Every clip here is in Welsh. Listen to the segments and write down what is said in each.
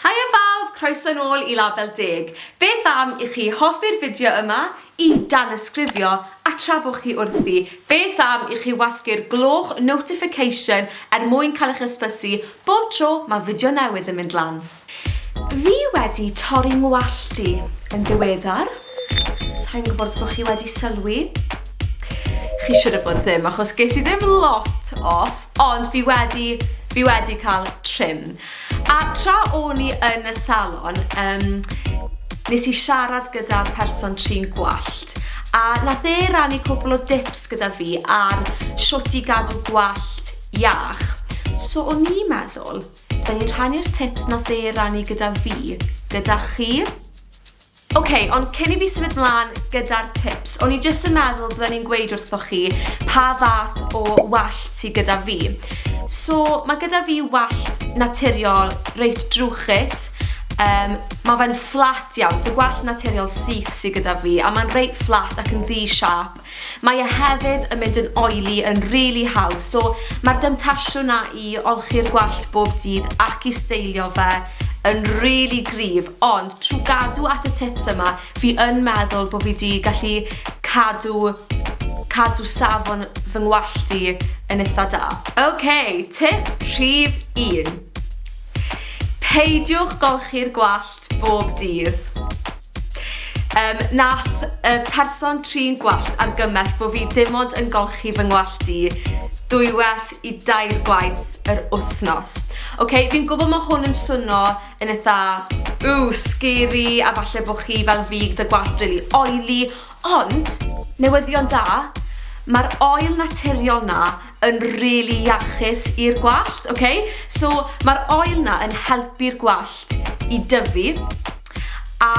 Haia bawb, croeso nôl i Label Deg. Beth am i chi hoffi'r fideo yma, i danysgrifio, a tra bo chi wrthi, beth am i chi wasgu'r gloch notification er mwyn cael eich hysbysu bob tro mae fideo newydd yn mynd lan. Fi wedi torri ngwallt i yn ddiweddar. Sai'n gwybod os bod chi wedi sylwi. Chi siwr o fod ddim, achos ges i ddim lot off, ond fi wedi, fi wedi cael trim. A tra o'n i yn y salon, um, nes i siarad gyda person trin gwallt, a nath e rannu cwbl o dips gyda fi ar shwt i gadw gwallt iach. So o'n i'n meddwl, da ni'n rhannu'r tips nath e rannu gyda fi, gyda chi. Ok, ond cyn i fi symud mlan gyda'r tips, o'n i jyst yn meddwl bydden i'n gweud wrthoch chi pa fath o wallt sydd gyda fi. So, mae gyda fi wallt naturiol reit drwchus, um, mae fe'n fflat iawn, so gwallt naturiol syth sydd gyda fi, a mae'n reit fflat ac yn ddi siap, Mae e hefyd yn mynd yn oily yn rili hawdd so mae'r demtasiwn 'na i olchi'r gwallt bob dydd ac i steilio fe yn rili gryf ond trwy gadw at y tips yma fi yn meddwl bod fi 'di gallu cadw cadw safon fy ngwallt i yn eitha da. Ok, tip rhif un. Peidiwch golchi'r gwallt bob dydd. Um, nath y person trin gwallt argymell bod fi dim ond yn golchi fy ngwallt i dwywaith i dair gwaith yr wythnos. Oce, okay, fi'n gwybod mae hwn yn swnio yn eitha, ww, scary, a falle bod chi fel fi gyda gwallt really oily, ond newyddion da, mae'r oil naturiol na yn rili really iachus i'r gwallt, oce? Okay? So, mae'r oil na yn helpu'r gwallt i dyfu, A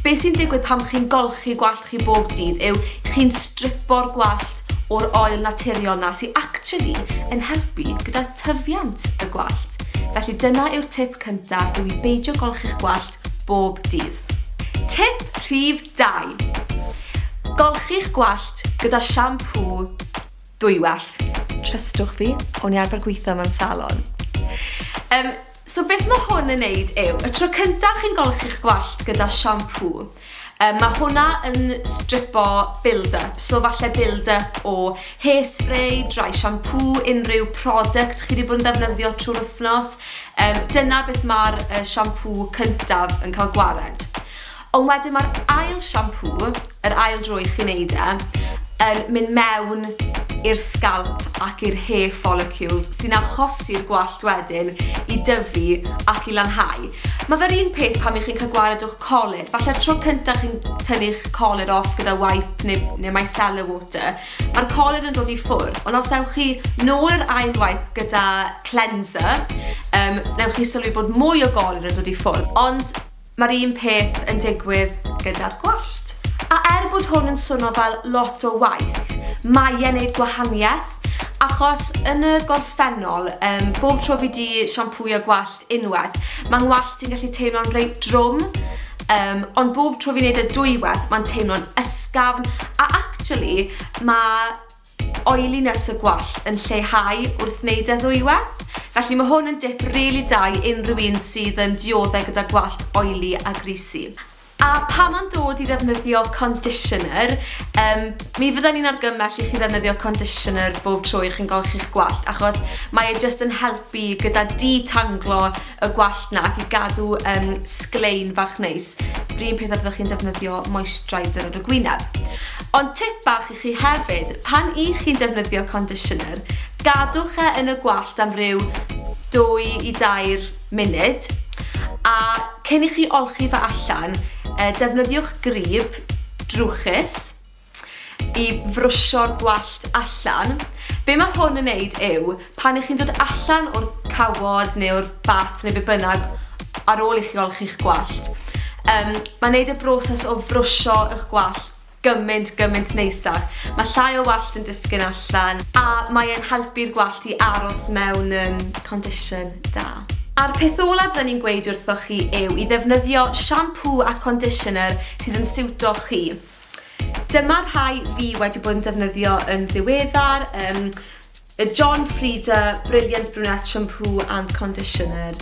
beth sy'n digwydd pan chi'n golchi gwallt chi bob dydd yw chi'n stripo'r gwallt o'r oil naturiol na sy'n actually yn helpu gyda tyfiant y gwallt. Felly dyna yw'r tip cyntaf yw i beidio golchi'ch gwallt bob dydd. Tip rhif 2. Golchi'ch gwallt gyda siampŵ Dwy werth. Trystwch fi, o'n i arfer gweithio mewn salon. Um, so beth mae hwn yn neud yw, y tro cyntaf chi'n golchi'ch gwallt gyda siampŵ, um, mae hwnna yn stripo build-up, so falle build-up o hairspray, dry shampoo, unrhyw product chi wedi bod yn defnyddio trwy'r wythnos. Um, dyna beth mae'r uh, siampŵ cyntaf yn cael gwared. Ond wedyn mae'r ail siampŵ, yr ail dro i chi wneud e, yn mynd mewn i'r sgalp ac i'r hair follicles sy'n achosi'r gwallt wedyn i dyfu ac i lanhau. Mae fe'r un peth pan ych chi'n cael gwared o'ch colur. Falle'r tro cyntaf chi'n tynnu'ch colur off gyda wipe neu, neu micellar water, mae'r colur yn dod i ffwrdd. Ond os ewch chi nôl yr ail waith gyda cleanser, um, newch chi sylwi bod mwy o golur yn dod i ffwrdd. Ond Mae'r un peth yn digwydd gyda'r gwallt. A er bod hwn yn swno fel lot o waith, mae e'n neud gwahaniaeth, achos yn y gorffennol, um, bob tro fi di siampwio gwallt unwaith, mae ngwallt i'n gallu teimlo'n reit drwm, um, ond bob tro fi'n neud y dwywaith, mae'n teimlo'n ysgafn, a actually, mae oiliness y gwallt yn lleihau wrth wneud e ddwywaith, felly mae hwn yn dip rili da i unrhyw un sydd yn diodde gyda gwallt oily a greasy. A pam am dod i ddefnyddio conditioner? Um, mi fydden ni'n argymell i chi ddefnyddio conditioner bob tro i chi'n golchi'ch gwallt achos mae e jyst yn helpu gyda detanglo y gwallt na ac i gadw um, sglein fach neis. Bryn peth a byddwch chi'n defnyddio moisturiser ar y gwyneb. Ond tip bach chi hefyd. Pan y'ch chi'n defnyddio conditioner, gadwch e yn y gwallt am ryw dwy i dair munud, a cyn i chi olchi fe allan, defnyddiwch grib drwchus i frwsio'r gwallt allan. Be mae hwn yn neud yw, pan y'ch chi'n dod allan o'r cawod neu o'r bath neu be bynnag ar ôl i chi olchi'ch gwallt, um, mae'n neud y broses o frwsio ych gwallt Gymaint, gymaint neisach. Mae llai o wallt yn disgyn allan a mae e'n helpu'r gwallt i aros mewn um, condition da. A'r peth olaf rydyn ni'n gweud wrthoch chi yw i ddefnyddio siampŵ a conditioner sydd yn siwto chi. Dyma rhai fi wedi bod yn defnyddio yn ddiweddar, um, y John Frieda Brilliant Brunette Shampoo and Conditioner.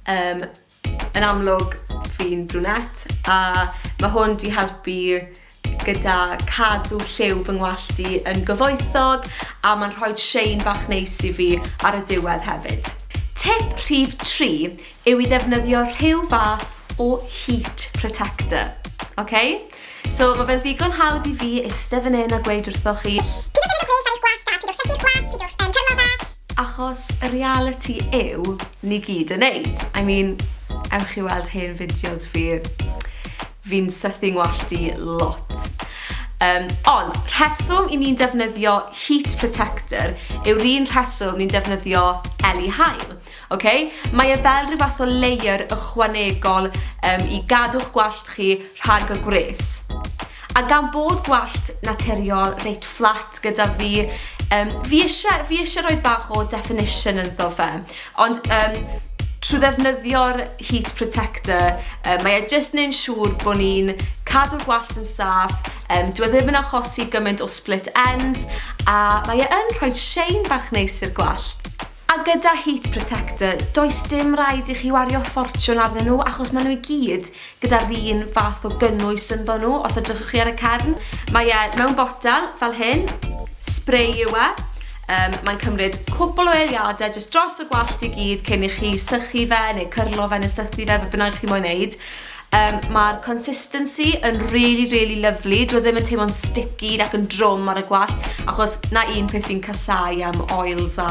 Um, Yn amlwg, fi'n brunette a mae hwn di helpu gyda cadw lliw fy ngwallt i yn gyfoethog a mae'n rhoi shein bach neis i fi ar y diwedd hefyd. Tip rhif 3 yw i ddefnyddio rhyw fath o heat protector. Okay? So, mae fe'n ddigon hawdd i fi eistedd fan hyn a gweud wrthoch chi... Pidwch yn gweld ar eich gwallt da, pidwch sythu'r cwallt, pidwch yn cyrlo fe. Achos y reality yw, ni gyd yn neud. I mean, ewch i weld hen fideos fi. Fi'n sythu ngwallt i lot. Um, ond, rheswm i ni'n defnyddio heat protector yw'r un rheswm ni'n defnyddio eli hael. Ok, mae e fel rhyw fath o layer ychwanegol um, i gadw'ch gwallt chi rhag y gwres. A gan bod gwallt naturiol reit fflat gyda fi, um, fi eisiau fi eisiau rhoi bach o definition ynddo fe. Ond um, trwy ddefnyddio'r heat protector, um, mae e jyst yn ein siŵr bod ni'n cadw'r gwallt yn saff, um, dwi e ddim yn achosi gymaint o split ends, a mae e yn rhoi shein bach neis i'r gwallt. A gyda Heat Protector, does dim rhaid i chi wario ffortiwn arnyn nhw achos maen nhw i gyd gyda'r un fath o gynnwys ynddo nhw, os edrychwch chi ar y cefn. Mae e mewn botel fel hyn, spray yw e. Um, mae'n cymryd cwbl o eiliadau jyst dros y gwallt i gyd cyn i chi sychu fe neu cyrlo fe neu sythu fe, fe bynnag chi moyn wneud. Um, Mae'r consistency yn really, really lovely. Dwi e ddim yn teimlo'n sticky ac yn drwm ar y gwallt, achos na un peth fi'n casau am oils a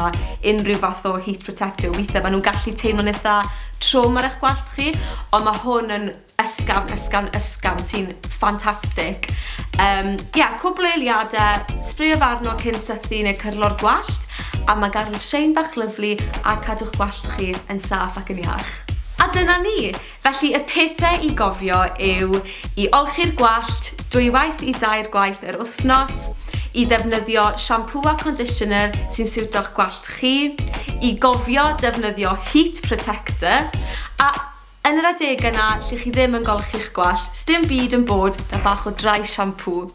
unrhyw fath o heat protector. Weithiau maen nhw'n gallu teimlo'n eitha trwm ar eich gwallt chi, ond mae hwn yn ysgam, ysgam, ysgam sy'n ffantastig. Um, yeah, cwbl eiliadau, sbrio farno cyn sythu neu cyrlo'r gwallt, a mae gael sein bach lyflu a cadw'ch gwallt chi yn saff ac yn iach. A dyna ni! Felly y pethau i gofio yw i olchi'r gwallt dwywaith i dair gwaith yr wythnos, i ddefnyddio siampŵ a conditioner sy'n siwto'ch gwallt chi, i gofio defnyddio heat protector, a yn yr adegau 'na lle chi ddim yn golchi'ch gwallt, sdim byd yn bod 'da bach o dry shampoo.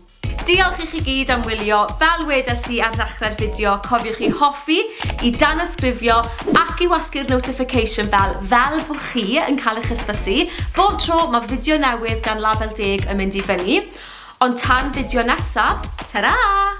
Diolch i chi gyd am wylio, fel wedes i ar ddechrau'r fideo, cofiwch i hoffi, i danysgrifio ac i wasgu'r notification bell fel bo chi yn cael eich hysbysu bob tro mae fideo newydd gan Label Deg yn mynd i fyny. Ond tan fideo nesa, tara!